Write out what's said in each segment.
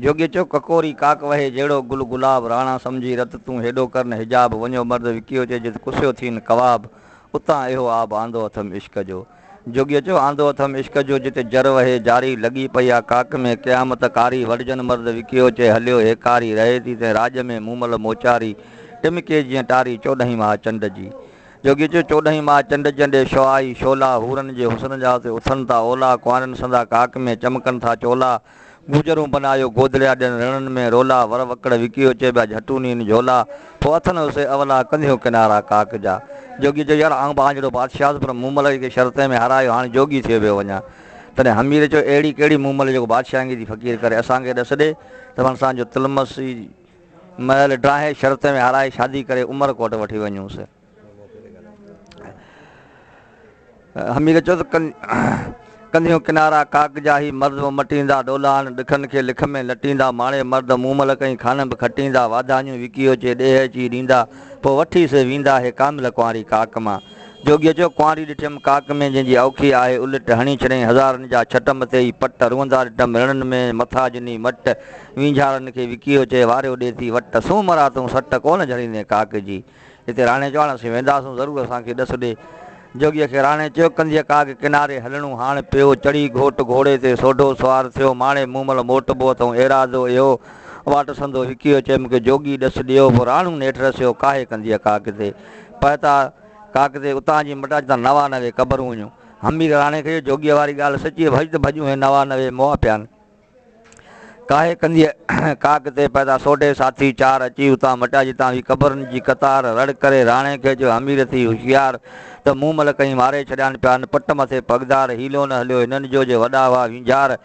جوڳي چيو ڪڪوري ڪاڪ وهي جهڙو گل گلاب راڻا سمجهي رت تون هيڏو ڪر نه حجاب وڃيو مرد وڪيو چي جت ڪسيو ٿين ڪواب اتان اهو آب آندو اٿم عشق جو جوڳي چيو آندو اٿم عشق جو جتي جر وهي جاري لڳي پئي آ ڪاڪ ۾ قيامت ڪاري وڙهجن مرد وڪيو چي هليو هيڪاري رهي ٿي تنهن راڄ ۾ مومل موچاري ٽمڪي جيئن ٽاري چوڏهين ماهه چنڊ جي جوڳي چيو چوڏهين ماهه چنڊ جي ڏي شعائي شعلا حورن جي حسن جا اتي اٿن ٿا اولا ڪنوارين سندا ڪاڪ ۾ چمڪن ٿا چولا گوجرون بنايو گودڙيا ڏين رڻن ۾ رولا ور وڪڙ وڪيو چيٻيا جهٽون نين جهولا پوء اٿن اسي اولا ڪنڌيون ڪنارا ڪاڪ جا جوڳي چيو يار آئون به آنجڙو بادشاهه هوس پر مون ملئي کي شرطين ۾ هارايو هاڻي جوڳي ٿيو پيو وڃان تڏهن حمير چيو اهڙي ڪهڙي مون ملئي جيڪو بادشاهنگي جي فقير ڪري اسان کي ڏس ڏي ته من سان جو تلمسي محل ڊاهي شرطين ۾ هارائي شادي ڪري عمر ڪوٽ وٺي وڃونس. حميد چيو ته ڪنڌيون ڪنارا ڪاڪ جا هي مرد به مٽيندا ڏولاڻ ڏکن کي لک ۾ لٽيندا ماڻي مرد مون ملڪ ۽ خانه به کٽيندا واڌاڃون وڪي اوچي ڏيهه اچي ڏيندا پوء وٺي سي ويندا هي ڪامل ڪنواري ڪاڪ مان جوڳيء چيو ڪنواري ڏٺيم ڪاڪ ۾ جنهن جي اوکي آهي الٽ هڻي ڇڏيائين هزارن جا ڇٽ مٿي ئي پٽ روئندا ڏٺم رڻن ۾ مٿا جني مٽ وينجهارن کي وڪي اوچي واريو ڏي ٿي وٽ سون مرا تون سٽ ڪونه جهڙيندين ڪاڪ جي هتي راڻي چيو، هاڻ اسين وينداسون، ضرور اسان کي ڏس ڏي. جوڳيء کي راڻي چيو، ڪنڌيء ڪاڳ ڪناري هلڻو هاڻ پيو، چڙهي گهوٽ گهوڙي تي سوڍو سوار ٿيو، ماڻي مون مل موٽبو اٿئون ايراضو اهو. واٽ سندو هڪيو چيم ڪي جوڳي ڏس ڏيو، پوء راڻو نيٺ رسيو ڪاهي ڪنڌيء ڪاڳ تي پهتا. ڪاڳ تي اتان جي مٽاج تان نوا نوي قبرون هيون. همير راڻي کي چيو، جوڳيء واري ڳالهه سچي هئي، ڀڄ ته ڀڄون هي نوا نوي مئا پيا آهن. ڪاهي ڪندي ڪاڪ تي پيدا سوڍي ساٿي چار اچي اتان مٽا جتان هي قبرن جي قطار رڙ ڪري راڻي کي جو حمير ٿي هوشيار ته مون مل ڪئين ماري ڇڏيان پيا هن پٽ مٿي پڳدار حيلو نه هليو هنن جو جي وڏا هئا وينجهار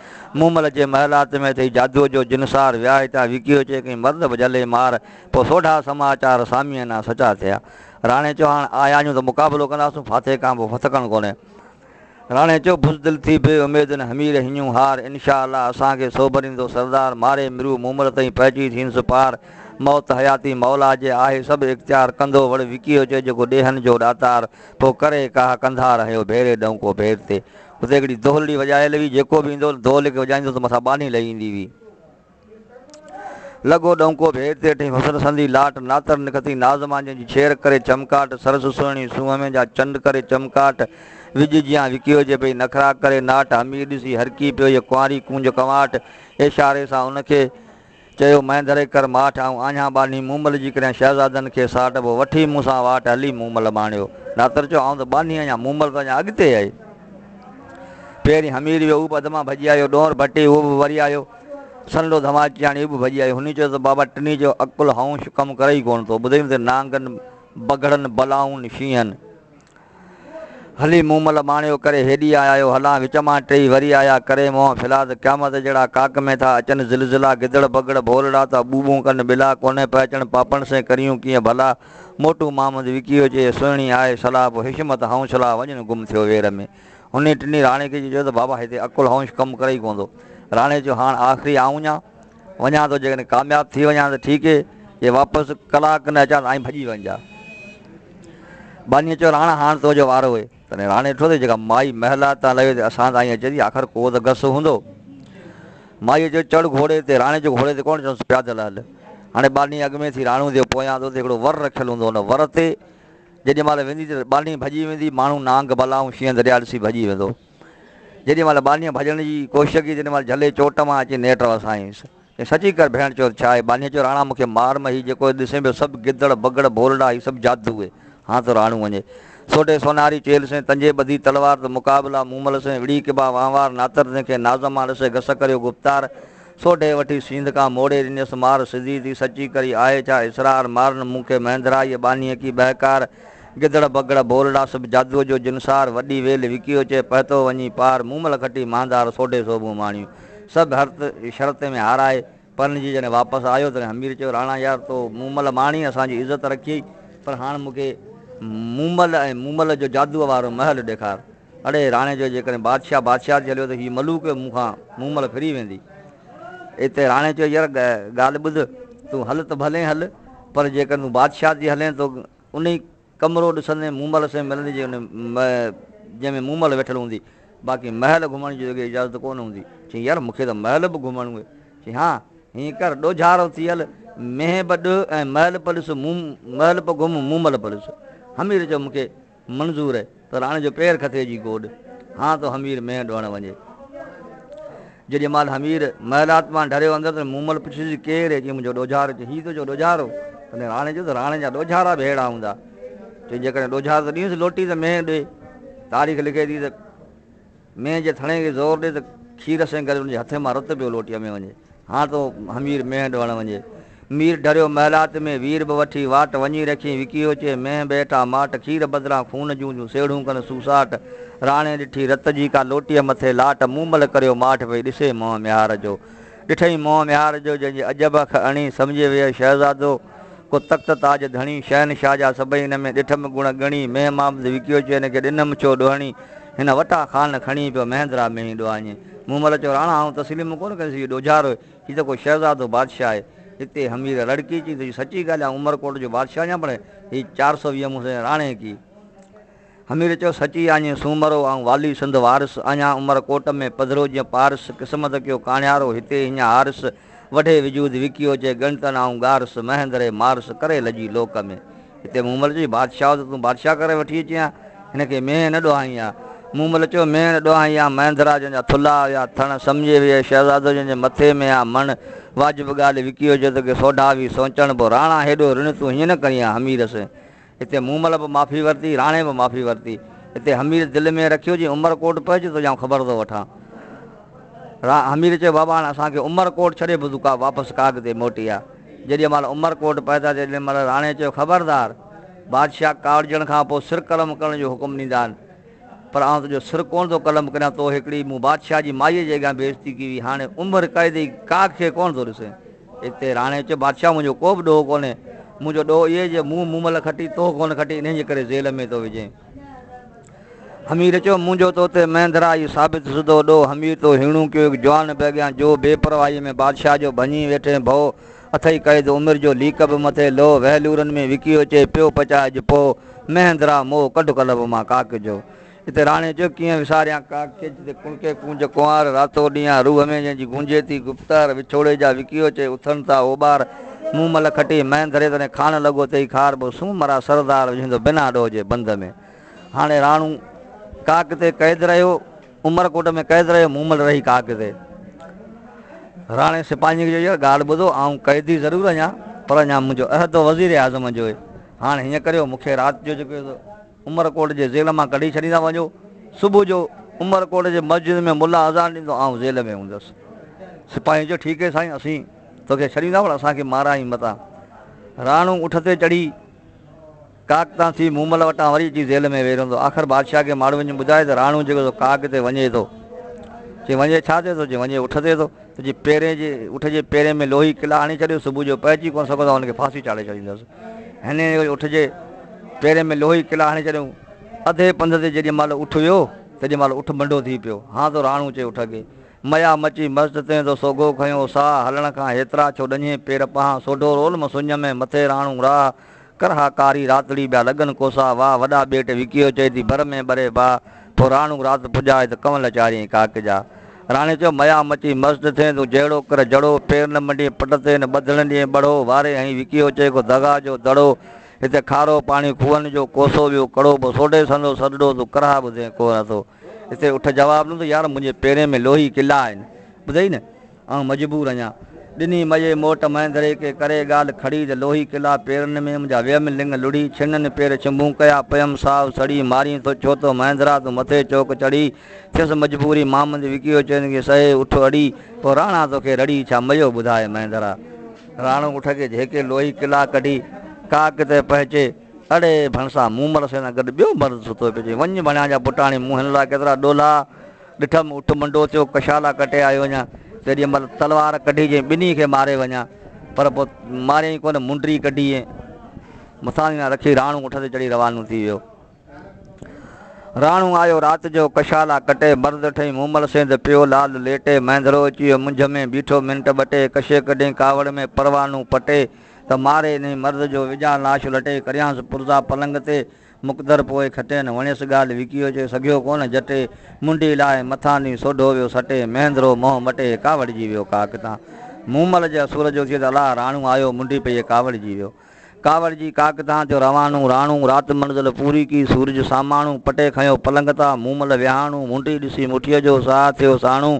مون مل جي محلات ۾ اٿئي جادوء جو جنسار ويا هتان وڪيو چي ڪئين مرد به جهلي مار پوء سوڍا سماچار ساميئنا سچا ٿيا راڻي چوهاڻ آيا آهيون ته مقابلو ڪنداسون ڦاٿي کان به ڦٿڪڻ ڪونهي راڻي چيو، بزدل ٿي بي اميدن همير هنيون هار، انشاء الله اسان کي سوڀريندو سردار، ماري مرو مومل تئين پهچي ٿين سپار، موت حياتي مولا جي آهي سڀ اختيار، ڪندو وڙ وڪيو چئي جيڪو ڏيهن جو ڏاتار، پوء ڪري ڪاهه ڪنڌار هنيو ڀيري ڏهونڪو ڀير تي. اتي هڪڙي دهلڙي وڄايل هئي، جيڪو به ايندو هو دهلڙي کي وڄائيندو هو ته مٿان ٻانهي لهي ايندي هئي. لڳو ڏؤنڪو به هير تير ٺهي حسن سندي لاٽ ناتر نکتي ناز مانجهين جي ڇير ڪري چمڪاٽ سرس سهڻي سونهن ۾ جا چنڊ ڪري چمڪاٽ وڄ جيان وڪيو جي پئي نخرا ڪري ناٽ حمير ڏسي هرڪي پيو هيء ڪنواري ڪونج ڪنواٽ اشاري سان ان کي چيو مهندري ڪر ماٺ آئون آنهيان ٻانهي مومل جي ڪريان شهزادن کي ساٽ پوء وٺي مون سان واٽ هلي مومل ماڻيو ناتر چيو آئون ته ٻانهي آهيان مومل ته اڃا اڳتي آهي پهرين حمير ويو هو به اڌ مان ڀڄي آيو ڏونر ڀٽي اهو به وري آيو سنلو ڌماچياڻي به ڀڄي آئي. هن چيو ته بابا ٽنهي جو عقل هائونش ڪم ڪري ئي ڪونه ٿو. ٻڌئي ته نانگن، بگهڙن، بلائن، شينهن. هلي مومل ماڻيو ڪري هيڏي آ آيو هلان وچ مان ٽيئي وري آيا ڪري منهن ڦيلا ته قيامت جهڙا ڪاڪ ۾ ٿا اچن زلزلا گدڙ بگهڙ ڀولڙا ٿا ٻو ٻون ڪن ٻلا ڪونه پئي اچن پاپڻ سين ڪريون ڪيئن ڀلا موٽو مامد وڪيو چئي سهڻي آهي صلاح پوء حشمت هائونس لا وڃن گم ٿيو وير ۾. انهيء ٽنهي راڻي کي چيو ته بابا هتي عقل هونش ڪم ڪري ئي ڪونه ٿو. راڻي چيو هاڻ آخري آئون وڃان؟ وڃان ٿو جيڪڏهن ڪامياب ٿي وڃان ته ٺيڪ اهي جي واپس ڪلاڪ کن اچان ته آئين ڀڄي وڃجان. ٻانهيء چيو راڻا هاڻ تنهنجو وارو اهي. تڏهن راڻي ڏٺو ته جيڪا مائي محلات تان لهي ته اسان تائين اچي ٿي آخر ڪو ته گس هوندو. مائيء چيو چڙهه گهوڙي تي راڻي چيو گهوڙي تي ڪونه چيائونس پيادل هل. هاڻي ٻانهيء اڳ ۾ ٿي راڻو ٿيو پويان ٿو ته هڪڙو ور رکيل هوندو ان ور تي جيڏي مهل ويندي ته ٻانهي ڀڄي ويندي، ماڻهو نانگ، بلا ۽ شينهن درياء ڏسي ڀڄي ويندو. جيڏي مهل ٻانهي ڀڄڻ جي ڪوشش ڪئي تيڏي مهل جهلي چوٽ مان اچي نيٽ وسايائينس. چيائين سچي ڪر ڀيڻ چوٿ ڇا آهي؟ ٻانهي چيو راڻا مون کي مار م هي جيڪو ڏسين پيو سڀ گدڙ، بگڙ، ڀولڙا هي سڀ جادو اهي. هان ته راڻو وڃي. سوڍي سونهاري چيل سين تنجي ٻڌي تلوار ته مقابلا مومل سين وڙهي ڪبا وهنوار ناتر تنهن کي ناز مان ڏسي گس ڪريو گفتار. سوڍي وٺي سينڌ کان موڙي ڏنيس مار سڌي ٿي سچي ڪري آهي ڇا اسرار مارن مون کي مهندرائيء ٻانهيء ڪي ٻهڪار گدڙ بگڙ ڀولڙا سڀ جادوء جو جنسار وڏي ويل وڪيو چي پهتو وڃي پار مومل کٽي مهندار سوڍي سوڀون ماڻيون سڀ هرت شرت ۾ هارائي پرڻجي جڏهن واپس آيو تڏهن همير چيو راڻا يار تو مومل ماڻي اسان جي عزت رکيئي پر هاڻ مون کي مومل ۽ مومل جو جادوء وارو محل ڏيکار. اڙي راڻي چيو، جيڪڏهن بادشاهه بادشاهت جي هليو ته هيء ملوڪ مون کان مون مل ڦري ويندي. اتي راڻي چيو، ير ڳالهه ٻڌ، تون هل ته ڀلين هل، پر جيڪڏهن تون بادشاهت جي هلين ته انهي ڪمرو ڏسندين، مون مل سين ملندين جنهن ۾ مون مل ويٺل هوندي، باقي محل گهمڻ جي توکي اجازت ڪو نه هوندي. چيائين، ير مون کي ته محل به گهمڻو اهي. چيائين، ها! هيئن ڪر، ڏوجهارو ٿي هل، مينهن به ڏهه ۽ محل به ڏس، مون مل به گهم، مون مل به ڏس. حمير چيو، مون کي. منظور ته راڻي جو پير کٿي جي گوڏ هان تو حمير مينهن ڊوهڻ وڃي. جيڏي مال حمير محلات مان ڍريو اندر ته مومل پڇيس جي ڪير هي؟ چيائين منهنجو ڏوجهارو. چيائين هي تنهنجو ڏوجهارو؟ تڏهن راڻي چيو ته راڻي جا ڏوجهارا به ههڙا هوندا. چيائين جيڪڏهن ڏوجهارو ته ڏينس لوٽي ته مينهن ڏي. تاريخ لکي ٿي ته. مينهن جي ٿڻي کي زور ڏي ته کير سين ڪري ان جي هٿين مان رت پيو لوٽي امي وڃي. هان تو همير مينهن ڊوڻ وڃي. مير ڍريو محلات ۾ وير به وٺي واٽ وڃي رکين وڪيو چي مينهن به هيٺان ماٽ کير بدران خون جون جون سيڙهون ڪن سوساٽ راڻي ڏٺي رت جي ڪا لوٽي مٿي لاٽ مون مل ڪريو ماٺ پئي ڏسي منهن ميهار جو ڏٺئي منهن ميهار جو جنهن جي عجب اک اڻي سمجهي ويئي شهزادو ڪو تخت تاج ڌڻي شهنشاهه جا سڀئي هن ۾ ڏٺم گڻ ڳڻي مينهن مان به وڪيو چي هن کي ڏنم ڇو ڏوهڻي هن وٽان خان کڻي پيو مهندرا مينهين ڏوهاڃي مون مل چيو راڻا آئون تسليم ڪونه ڪندس هيء ڏوجهارو هي هي ته ڪو شهزادو بادشاهه آهي اتي همير رڙڪي چيو ته سچي ڳالهه آئون عمرڪوٽ جو بادشاهه آهيان پر هي چار سو ويهه مون سين راڻي ڪي همير چيو، سچي آڃي سومرو آئون والي سنڌ وارس، آڃان عمر ڪوٽ ۾ پڌرو جيئن پارس، قسمت ڪيو ڪاڻيارو هتي هينئن هارس، وڍي وجود وڪيو چئي ڳڻتن آئون ڳارس، مهندري مارس ڪري لڄي لوڪ ۾. هتي مومل چيو، بادشاهو ته تون بادشاهه ڪري وٺي اچين ها، هن کي مينهن نه ڏوهائين ها. مومل چيو، مينهن نه ڏوهائين ها، مهندرا جنهن جا ٿلها هيا، ٿڻ سمجهي ويئي، شهزادو جنهن جي مٿي ۾ ها، مڻ. واجب ڳالهه وڪيو چيو، توکي سوڍا ويهه سوچڻ پو، راڻا هيڏو رڻ تون هيئن نه ڪرين ها، همير سين. هتي مومل به معافي ورتي، راڻي به معافي ورتي. هتي حمير دل ۾ رکيو جي عمر ڪوٽ پهچ تنهنجا آئون خبر ٿو وٺان. را حمير چيو بابا هاڻ اسان کي عمر ڪوٽ ڇڏي بدو ڪا واپس ڪاڳ تي موٽي آ. جيڏي مهل عمر ڪوٽ پهتا تيڏي مهل راڻي چيو خبردار! بادشاهه ڪاوڙجڻ کان پوء سر قلم ڪرڻ جو حڪم ڏيندا آهن. پر آئون تنهنجو سر ڪونه ٿو قلم ڪريان تو هڪڙي مون بادشاهه جي مائيء جي اڳيان بي عزتي ڪئي هئي هاڻي عمر قيد ئي ڪاڳ کي ڪونه ٿو ڏسين. اتي راڻي چيو، بادشاهه منهنجو ڪو به ڏوهه ڪونهي، منهنجو ڏوهه اهو جو مون مومل کٽي تو ڪونه کٽي انهيء جي ڪري زيل ۾ ٿو وجهين. حمير چيو، منهنجو تو تي مهندرا اهو ثابت سڌو ڏوهه حمير تو هيڻو ڪيو هڪ جوان به اڳيان جو بي پرواهيء ۾ بادشاهه جو ڀڃي ويٺين ڀئو اٿئي قيد عمر جو ليڪ به مٿي لوهه وهلورن ۾ وڪيو چئي پيو پچاء اڄ پوء مهندرا مون ڪڍ ڪلب مان ڪاڪ جو اتي راڻي چيو، ڪيئن وساريان ڪا ڪج تي ڪڻڪي ڪونج ڪنوار، راتو ڏينهان روح ۾ جنهن جي گونجي ٿي گفتار، وڇوڙي جا وڪيو چئي اٿن ٿا اوٻار، مون مل کٽي مئن ڌري تڏهن کاڻ لڳو تئي کار، بو سون مرا سردار وجهندو بنا ڏوهه جي بند ۾. هاڻي راڻو ڪاڪ تي قيد رهيو، عمر ڪوٽ ۾ قيد رهيو، مون مل رهي ڪاڪ تي. راڻي سپاهين کي چيو، ڳالهه ٻڌو، آئون قيدي ضرور اڃان، پر اڃان منهنجو عهد وزير اعظم جو هي، هاڻ هيئن ڪريو، مون کي رات جو جيڪو عمر ڪوٽ جي زيل مان ڪڍي ڇڏيندا وڃو. صبح جو عمر ڪوٽ جي مسجد ۾ ملا اذان ڏيندو آئون زيل ۾ هوندس. سپاهين چيو ٺيڪ هي سائين اسين توکي ڇڏيندا پر اسان کي مارائين متان. راڻو اٺ تي چڙهي ڪاڪ تان ٿي مومل وٽان وري اچي زيل ۾ ويهي رهندو. آخر بادشاهه کي ماڙهو وڃي ٻڌائي ته راڻو جيڪو سو ڪاڪ تي وڃي ٿو. چي وڃي ڇا تي ٿو؟ چي وڃي اٺ تي ٿو. ته چي پيرين جي اٺ جي پيرين ۾ لوهي قلعه هڻي ڇڏيو صبح جو پهچي ڪونه سگهندو هن کي ڦاسي چاڙهي ڇڏيندس. هن جي اٺ جي پيرين ۾ لوهي ڪلا هڻي ڇڏيائون. اڌي پنڌ تي جيڏي مهل اٺ ويو، تيڏي مهل اٺ منڊو ٿي پيو. هان تو رهاڻو چي اٺ اگهي. ميا مچي مست تنهن تو سوگهو کنيو ساهه هلڻ کان هيترا ڇو ڏڃين پير پهان سوڍو رول م سڃ ۾ مٿي رهاڻو راهه ڪر ها ڪاري راتڙي ٻيا لڳن ڪوسا واهه وڏا ٻيٽ وڪيو چئي ٿي بر ۾ ٻري باهه پوء رهاڻو رات پڄائي ته ڪنول چارينء ڪاڪ جا راڻي چيو، ميا مچي مست ٿين تون جهڙو ڪر جڙو، پير نه منڊين پٽ تي نه ٻڌڻ ڏيئين ٻڙو، واري هنئين وڪيو چئي ڪو دغا جو دڙو، هتي کارو پاڻي کوهن جو ڪوسو ويو ڪڙو، پوء سوڍي سندو سڏڙو تون ڪرها ٻڌين ڪو نه ٿو. هتي اٺ جواب ڏنو ته يار منهنجي پيرين ۾ لوهي ڪلا آهن ٻڌئي نه آئون مجبور آهيان. ڏني مئي موٽ مهندري کي ڪري ڳالهه کڙي ته لوهي ڪلا پيرن ۾ منهنجا ويم لڱ لڙهي ڇنن پير ڇنڀون ڪيا پيم ساهه سڙي مارين ٿو ڇو ٿو مهندرا تون مٿي چوڪ چڙهي ٿيس مجبوري مامند وڪيو چين کي سهي اٺ اڙي پوء راڻا توکي رڙي ڇا ميو ٻڌاء مهندرا. راڻو اٺ کي جهڪي لوهي ڪلا ڪڍي ڪاڪ تي پهچي اڙي ڀڻسا مون مڙس سان گڏ ٻيو مرد ستو پيو چئي وڃ ڀڻيان جا پٽاڻي مون هن لاء ڪيترا ڏولا ڏٺم اٺ منڊو ٿيو ڪشالا ڪٽي آيو وڃان تيڏيء مهل تلوار ڪڍي چئي ٻنهي کي ماري وڃان پر پوء ماريائين ڪونه منڊري ڪڍي ۽ مٿانهين رکي راڻو اٺ تي چڙهي روانو ٿي ويو. راڻو آيو رات جو ڪشالا ڪٽي، برد ٺهي مومل سينڌ پيو لال ليٽي، مهندرو اچي ويو منجهه ۾ بيٺو منٽ ٻه ٽي، ڪشي ڪڍين ڪاوڙ ۾ پروانو پٽي، ته ماري انهي مرد جو وجهان لاش لٽي، ڪريانس پرزا پلنگ تي مقدر پوء کٽين، وڻيس ڳالهه وڪيو چي سگهيو ڪونه جٽي، منڊي لاهي مٿان ڏينهن سوڍو ويو سٽي، مهندرو منهن مٽي ڪاوڙجي ويو ڪا ڪتان، مومل جي اسور جو ٿئي ته الاهه راڻو آيو منڊي پيئي ڪاوڙجي ويو. ڪاوڙ جي ڪاڪ تان ٿيو روانو، راڻو رات منزل پوري ڪي، سورج ساماڻو، پٽي کنيو پلنگ تان، مون مل ويهاڻو، منڊي ڏسي مٺيء جو، ساهه ٿيو ساڻو،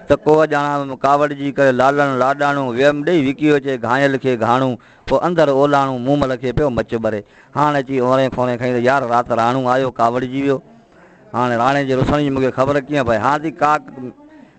ته ڪوهه ڄاڻان ويم ڪاوڙ جي ڪري، لالڻ لاڏاڻو، ويم ڏيئي وڪي وچي گهانئل کي گهاڻو، پوء اندر اولاڻو، مون مل کي پيو مچ ٻري، هاڻ اچي اونري کونري کئين ته يار رات راڻو آيو ڪاوڙجي ويو، هاڻي راڻي جي رسڻ جي مون کي خبر ڪيئن پئي، هان ٿي ڪاڪ.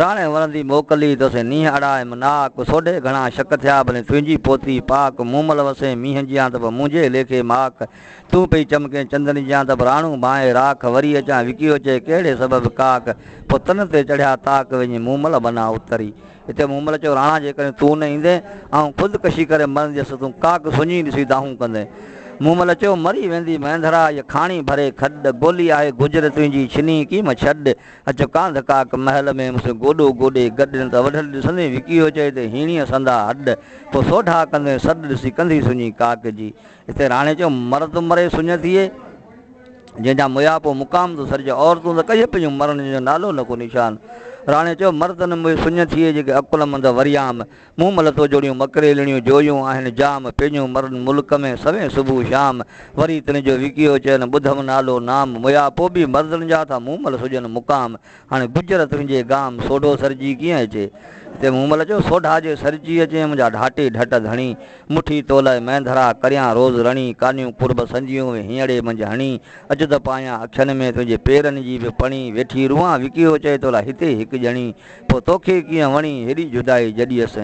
راڻي ورندي موڪلي تو سين نينهن اڙائيم ناڪ سوڍي گهڻا شڪ ٿيا ڀلين تنهنجي پوتي پاڪ مومل وسين مينهن جيان ته به منهنجي ليکي ماڪ تون پئي چمڪين چندن جيان ته به راڻو ڀانئي راک وري اچان وڪيو چئي ڪهڙي سبب ڪاڪ پوء تن تي چڙهيا تاڪ وڃي مومل بنان اتري اتي مومل چيو راڻا جيڪڏهن تون نه ايندين آئون خود ڪشي ڪري مرنديس تون ڪاڪ سڃي ڏسي دانهون ڪندين مومل چيو مري ويندي مينڌرا هيء کاڻي ڀري کڏ گولي آهي گجر تنهنجي ڇني ڪيم ڇڏ اچ ڪانڌ ڪاڪ محل ۾ مون سين گوڏو گوڏي گڏ نه ته وڍل ڏسندين وڪي هو چئي ته هيڻيء سندا هڏ پوء سوڍا ڪندين سڏ ڏسي ڪنڌي سڃي ڪاڪ جي اتي راڻي چيو مرد مري سڃ ٿئي جنهن جا ميا پوء مقام ٿو سرجي عورتون ته ڪيئي پيون مرڻ جنهن جو نالو نه ڪو نشان راڻي چيو مرد نه مئي سڃ ٿئي جيڪي عقلمند وريام مون مل تو جوڙيون مڪريلڻيون جويون آهن جام پينيون مرن ملڪ ۾ سوين صبح شام وري تن جو وڪيو چين ٻڌم نالو نام ميا پو به مردن جا ٿا مون مل سجن مقام هاڻي گجر تنهنجي گام سوڍو سرجي ڪيئن اچي هتي مون مل چيو سوڍا جي سرجي اچين منهنجا ڍاٽي ڍٽ ڌڻي مٺي تو لاء مينڌرا ڪريان روز رڻي ڪانيون قرب سنجيون وي هينئڙي منجهه هڻي اچ ته پايان اکين ۾ تنهنجي پيرن جي به پڻي ويٺي روئان وڪيو چئي تو لاء هتي هڪ ڄڻي پوء توکي ڪيئن وڻي هيڏي جدائي جڏي هس؟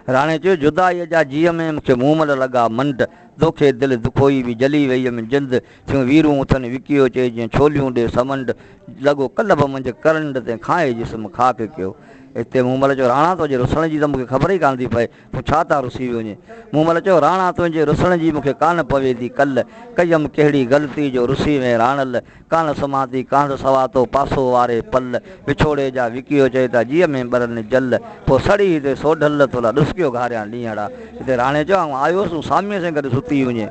راڻي چيو، جدائيء جا جيء ۾ مون کي مومل لڳا منڊ، دوکي دل دکوئي وي جلي ويئي م جند، ٿيون ويرون اٿن وڪيو چئي جيئن ڇوليون ڏي سمنڊ، لڳو قلب منجهه ڪرنڊ تنهن کانئي جسم خاڪ ڪيو. اتي مومل چيو، راڻا توجي رسڻ جي ته مون کي خبر ئي ڪانه ٿي پئي، تون ڇا تان رسي وڃين؟ مون مل چيو، راڻا تنهنجي رسڻ جي مونکي ڪانه پوي ٿي ڪل، ڪيم ڪهڙي غلطي جو رسي وئين راڻل، ڪانه سمهان ٿي ڪانڌ سوا تو پاسو واري پل، وڇوڙي جا وڪيو چئي ٿا جيء ۾ ٻرن جل، پوء سڙي هتي سوڍل تو لا ڏسڪيو گهاريان ڏينهڙا، هتي راڻي چيو، آئون آيو هوس تون ساميء سين گڏ ستي وڃين.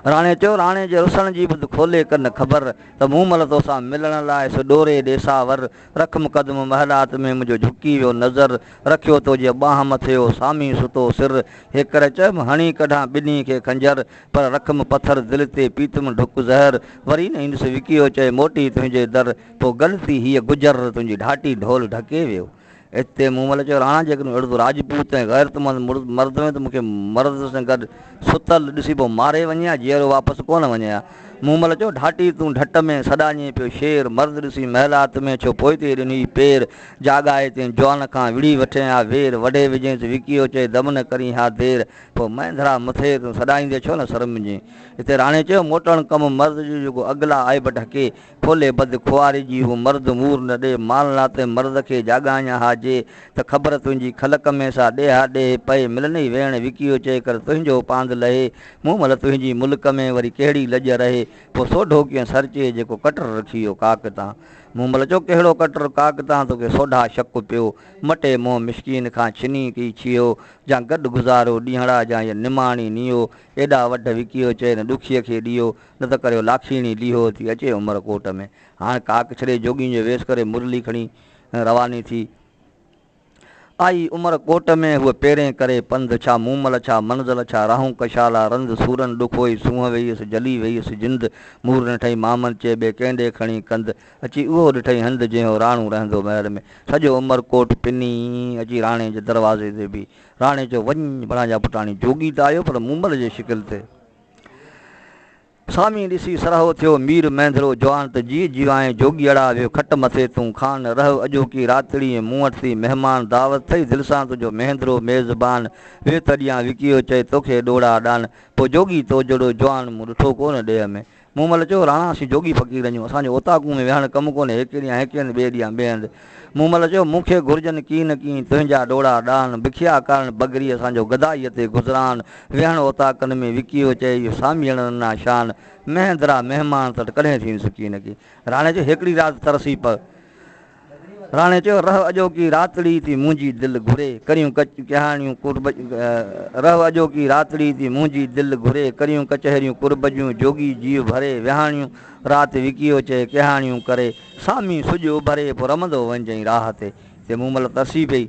راڻي چيو، راڻي جي رسڻ جي ٻڌ کولي ڪن خبر، ته مون مل توسان ملڻ لاء سو ڏوري ڏيساور، رک مقدم محلات ۾ منهنجو جهڪي ويو نظر رکيو تو جي ٻانهن مٿي او سامي ستو سر هي ڪري چيم هڻي ڪڍان ٻنهي کي خنجر پر رکم پٿر دل تي پيتم ڍڪ زهر وري نه ايندس وڪيو چئي موٽي تنهنجي در تو گل ٿي هيء گجر تنهنجي ڍاٽي ڍول ڍڪي ويو. اتي مومل چيو راڻا جيڪڏهن اهڙو راجپوت ۽ غيرتمند مرد هئين ته مون کي مرد سان گڏ ستل ڏسي پوء ماري وڃي ها جيئرو واپس ڪونه وڃي ها. مومل چيو، ڍاٽي تون ڍٽ ۾ سڏاڃين پيو شير، مرد ڏسي محلات ۾ ڇو پوئتي ڏنئي پير، جاڳائي تين جوان کان وڙهي وٺين ها وير، وڍي وجهينس وڪيو چئي دم نه ڪرين ها دير، پوء مهندرا مٿي تون سڏائيندي ڇو نه سرمجين. اتي راڻي چيو، موٽڻ ڪم مرد جو جيڪو اڳلا عيب ڍڪي، ڦولي بد خواري جي هو مرد مور نه ڏي مال نا تنهن مرد کي جاڳاڃ ها جي ته خبر تنهنجي کل ڪمي سا ڏيها ڏيهه پئي ملنئي ويڻ وڪيو چئي ڪر تنهنجو پاند لهي مون مل تنهنجي مل ڪمي وري ڪهڙي لڄ رهي پو سوڍو ڪين سرچي جيڪو ڪٽر رکيو ڪاڪ تان مون مل چو ڪهڙو ڪٽر ڪاڪ تان توکي سوڍا شڪ پيو مٽي مون مسڪين کان ڇني ڪي ڇيهو جان گڏ گذارو ڏينهڙا جان يا نماڻي نيو ايڏا وڍ وڪيو چئي نه ڏکيء کي ڏيو نه ته ڪريو لاکيڻي ڏيهو ٿي اچي عمر ڪوٽ ۾. هاڻ ڪاڪ ڇڏي جوڳين جو ويس ڪري مرلي کڻي رواني ٿي. آئي عمر ڪوٽ ۾ هوء پيرين ڪري پنڌ ڇا مومل ڇا منزل ڇا راهون ڪشالا رند سورن ڏکوئي سونهن ويئيس جلي ويئيس جند مور نٺئي مامن چي ٻي ڪنهن ڏي کڻي ڪنڌ اچي اهو ڏٺئي هنڌ جنهو راڻو رهندو محل ۾ سڄو عمر ڪوٽ پني اچي راڻي جي دروازي تي بيهي راڻي چيو وڃ ڀلا جا پٽاڻي جوڳي ته آيو پر مومل جي شڪل تي سامي ڏسي سرهو ٿيو مير مينڌرو جوان ته جيء جيوانء جوڳيئڙا ويو کٽ مٿي تون خان رهه اڄوڪي راتڙيء مون وٽ ٿي مهمان دعوت ٿئي دل سان تنهنجو مينڌرو ميزبان ويهه ته ڏيان وڪيو چئي توکي ڏوڙا ڏان پوء جوڳي توجهڙو جوان مون ڏٺو ڪونه ڏيهه ۾ مون مل چيو راڻا اسين جوڳي فقير اهيون اسان جو اوطاقون ۾ ويهڻ ڪم ڪونهي هيڪي ڏيان هيڪي هنڌ ٻئي ڏيان ٻئي هنڌ مومل چيو، مون کي گهرجن ڪين نه ڪين تنهنجا ڏوڙا ڏان، بکيا ڪارڻ بگري اسان جو گدائيء تي گذران، ويهڻ اوطاقن ۾ وڪيو چئي اهو ساميئڙ ننا شان، مهندرا مهمان تٽ ڪڏهن ٿين سڪي نه ڪي. راڻي چيو، هيڪڙي رات ترسي پء. راڻي چيو، رهه اڄوڪي راتڙي ٿي منهنجي دل گهري، ڪريون ڪهاڻيون قرب رهه اڄوڪي راتڙي ٿي منهنجي دل گهري، ڪريون ڪچهريون قرب جون جوڳي جيء ڀري، ويهاڻيون رات وڪيو چئي ڪهاڻيون ڪري سامي سج اڀري پو رمندو وڃجئين راهه تي تي مون مل ترسي پئي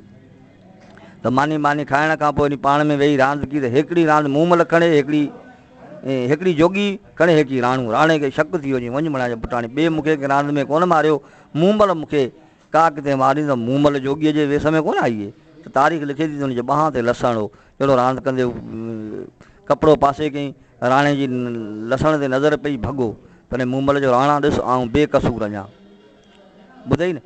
ته ماني ماني کائڻ کان پو پاڻ ۾ ويهي راند ڪي ته هيڪڙي راند مون مل کڻي هيڪڙي هيڪڙي جوڳي کڻي هيڪي راڻو راڻي کي شڪ ٿي ويو جي وڃ مڙا جي پٽاڻي ٻي مون کي ڪنهن راند ۾ ڪونه ماريو مون مل مون کي ڪا ڪٿي مارين ته مومل جوڳيء جي ويس ۾ ڪونه آئي ته تاريخ لکي ٿي ته ان جي ٻانهن تي لسڻ هو، جهڙو راند ڪندي هو ڪپڙو پاسي ڪيائين، راڻي جي لسڻ تي نظر پئي ڀڳو، تڏهن مومل چيو راڻا ڏس آئون بي قصور اڃان ٻڌئي نه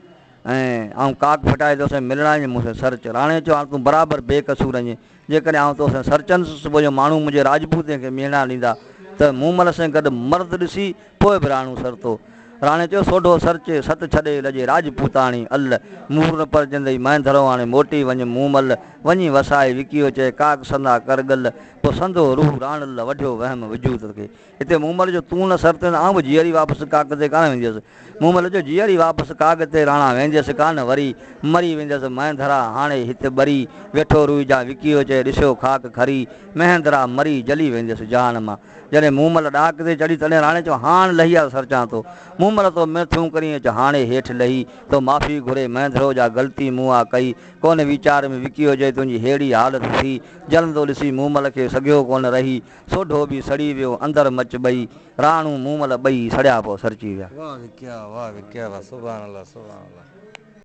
۽ آئون ڪاڪ ڦٽائي توسين ملڻ آيس مون سين سر چيو، راڻي چيو هاڻ تون برابر بي قصور آهين. جيڪڏهن آئون تو سان سرچندس، صبح جو ماڻهو منهنجي راجپوتين کي ميڻا ڏيندا ته مون مل سين گڏ مرد ڏسي پوء به راڻو سرتو. راڻي چيو، سوڍو سرچي، ست ڇڏي لڄي راجپوتاڻي، ال مور نه پرجندئي، مهندرو آڻي موٽي وڃ مون مل، وڃي وسائي وڪيو چئي، ڪاڪ سندا ڪر ڳل، پوء سندو روح راڻ ال وڍيو وهم وجود کي، هتي مومل جو تون نه سر تي نه آئون به جيئري واپس ڪاڳ تي ڪانه وينديس مومل جو جيئري واپس ڪاڳ تي راڻا وينديس ڪانه وري مري وينديس مهندرا هاڻي هت ٻري ويٺو روئي جان وڪيو چئي ڏسيو خاڪ کري مهندرا مري جلي وينديس جهان مان جڏهن مومل ڏاڪ تي چڙهي تڏهن راڻي چيو هاڻ لهي آ سر چان ٿو مومل تو م ٿيون ڪرين اچ هاڻي هيٺ لهي تو معافي گهري مهندرو جا غلطي مون آ ڪئي ڪونه ويچار ۾ وڪيو جئي تنهنجي ههڙي حالت ٿي جلندو ڏسي مومل کي سگهيو ڪونه رهي سوڍو به سڙي ويو اندر مچ ٻئي راڻو مومل ٻئي سڙيا پوء سرچي ويا.